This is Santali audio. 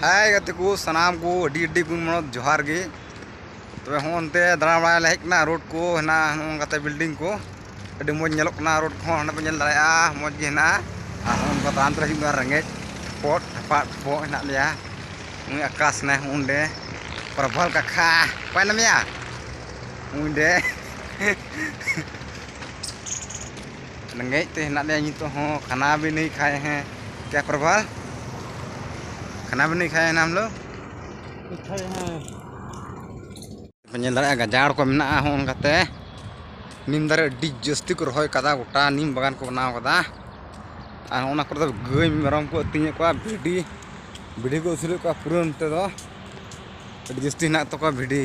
ᱦᱮᱸ ᱜᱟᱛᱮ ᱠᱚ ᱥᱟᱱᱟᱢ ᱠᱚ ᱟᱹᱰᱤ ᱟᱹᱰᱤ ᱜᱩᱱ ᱢᱚᱱᱚᱛ ᱡᱚᱦᱟᱨ ᱜᱮ ᱛᱚᱵᱮ ᱦᱚᱸ ᱚᱱᱛᱮ ᱫᱟᱬᱟ ᱵᱟᱲᱟᱭ ᱞᱮ ᱦᱮᱡ ᱠᱟᱱᱟ ᱨᱳᱰ ᱠᱚ ᱦᱮᱱᱟᱜᱼᱟ ᱱᱚᱝᱠᱟᱛᱮ ᱵᱤᱞᱰᱤᱝ ᱠᱚ ᱟᱹᱰᱤ ᱢᱚᱡᱽ ᱧᱮᱞᱚᱜ ᱠᱟᱱᱟ ᱨᱳᱰ ᱠᱚᱦᱚᱸ ᱦᱟᱸᱰᱮ ᱯᱮ ᱧᱮᱞ ᱫᱟᱲᱮᱭᱟᱜᱼᱟ ᱢᱚᱡᱽ ᱜᱮ ᱦᱮᱱᱟᱜᱼᱟ ᱟᱨ ᱦᱚᱸ ᱚᱱᱠᱟ ᱛᱟᱲᱟᱢ ᱛᱮᱞᱮ ᱦᱤᱡᱩᱜ ᱠᱟᱱᱟ ᱨᱮᱸᱜᱮᱡ ᱯᱚᱴ ᱴᱷᱟᱯᱟᱜ ᱴᱷᱚᱯᱚᱜ ᱦᱮᱱᱟᱜ ᱞᱮᱭᱟ ᱩᱱᱤ ᱟᱠᱟᱥ ᱦᱮᱱᱟᱭ ᱚᱸᱰᱮ ᱯᱨᱚᱵᱷᱚᱞ ᱠᱟᱠᱷᱟ ᱚᱠᱚᱭ ᱢᱮᱱᱟᱢᱮᱭᱟ ᱚᱸᱰᱮ ᱨᱮᱸᱜᱮᱡ ᱛᱮ ᱦᱮᱱᱟᱜ ᱞᱮᱭᱟ ᱱᱤᱛᱚᱜ ᱦᱚᱸ ᱠᱷᱟᱱᱟ ᱵᱷᱤ ᱱᱟᱹᱦᱤ ᱠᱷᱟᱭᱮ ᱦᱮᱸ ᱠᱮᱭᱟ ᱯᱨᱚᱵᱷᱟ ᱠᱷᱟᱱᱟ ᱵᱷᱤ ᱱᱟᱹᱦᱤ ᱠᱷᱟᱭᱮ ᱦᱮᱸ ᱦᱟᱢ ᱞᱳᱜ ᱧᱮᱞ ᱫᱟᱲᱮᱭᱟᱜᱼᱟ ᱜᱟᱡᱟᱲ ᱠᱚ ᱢᱮᱱᱟᱜᱼᱟ ᱦᱚᱸ ᱚᱱᱠᱟᱛᱮ ᱱᱤᱢ ᱫᱟᱨᱮ ᱟᱹᱰᱤ ᱡᱟᱹᱥᱛᱤ ᱠᱚ ᱨᱚᱦᱚᱭ ᱠᱟᱫᱟ ᱜᱚᱴᱟ ᱱᱤᱢ ᱵᱟᱜᱟᱱ ᱠᱚ ᱵᱮᱱᱟᱣ ᱠᱟᱫᱟ ᱟᱨ ᱚᱱᱟ ᱠᱚᱨᱮ ᱫᱚ ᱜᱟᱹᱭ ᱢᱮᱨᱚᱢ ᱠᱚ ᱟᱹᱛᱤᱧᱮᱫ ᱠᱚᱣᱟ ᱵᱷᱤᱰᱤ ᱵᱷᱤᱰᱤ ᱠᱚ ᱟᱹᱥᱩᱞᱮᱫ ᱠᱚᱣᱟ ᱯᱩᱨᱟᱹ ᱱᱚᱛᱮ ᱫᱚ ᱟᱹᱰᱤ ᱡᱟᱹᱥᱛᱤ ᱦᱮᱱᱟᱜ ᱛᱟᱠᱚᱣᱟ ᱵᱷᱤᱰᱤ